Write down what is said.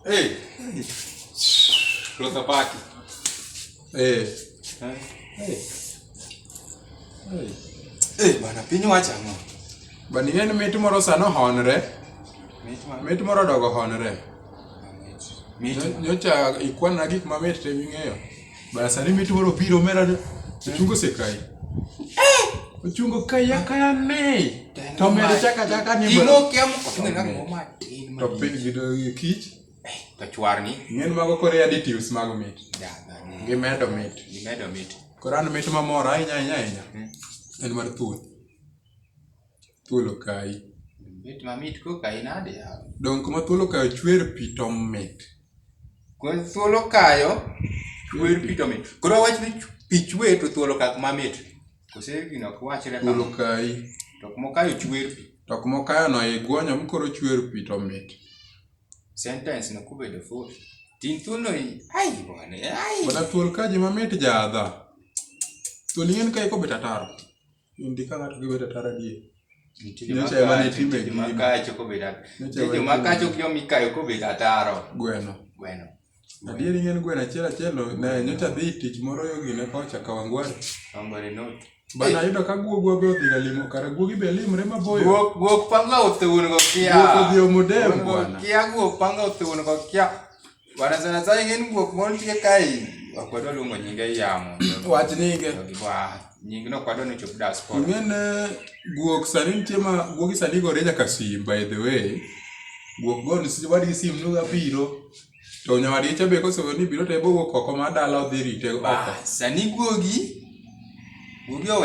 Hey. Flota Pac. Hey. Hey. Hey. Hey, bana piny wacha ang'o? Bana ing'e ni mit moro sano honre. Mit moro dogo honre. Nyocha ikwana gik mamit te ming'eyo. Bana sani mitu waro piro mera de. Chungo se kai. Eh! Chungo kai ya kaya ne. To mera chaka chaka ni bana. Imo kia mko tunga na ngoma tin. To pin gido yi kich. Eh, to chwar ni. Ngen mago kore additives mago mit. Da, da. Gi medo mit. Gi medo mit. Koran mit mamora inya inya inya. Hmm. En mar thuth. Thuol okayi. Bet mamit ko kayi nade yawa. Donge kuma thuol okayo chwer pi to mit? Ko thuol okayo chwer pi to mit. Koro awach ni pi chwe to thuol okak mamit. Kose gino ok wachre Thuol kamano. okayi. To kuma okayo chwer pi. To kuma okayono iguonyo mi koro chwer pi to mit. Sentence no kubedo full. Tin thuol no i- ai bwana ai. Bwana thuol kaji mamit jadha. Thuol ing'eni ka ikobet ataro. Indi ka ng'ato gi bedo tara die. Nyocha ema ne timbe gi. Makacho ko bedo. Nyocha makacho ko mi kayo ko bedo ataro. Gweno. Gweno. Adieri ng'en gweno achiel achiel ne nyocha dhi tich moro yo gine kocha ka wangware. Wangware no. Bana yudo ka guogu obe odhi ga limo kara guogi be limre maboyo. Guok guok panga othewon go kia. Guok odhi omodem bwana. Kia guok panga othewon go kia. Wanasema sasa ingeni kwa kumontie kai wakwedo lungo nyinge yamo. Wach nyinge. Wa nyinge no kwado ni chop das kwa. Ngene guok sani nitie ma guok sani go reja kasim by the way. Guok go ni sibadi gi sim nuga biro. To nyawadi cha be koso ni biro to ebo guok oko ma dala odhi rite oko. Sani guogi guogi owe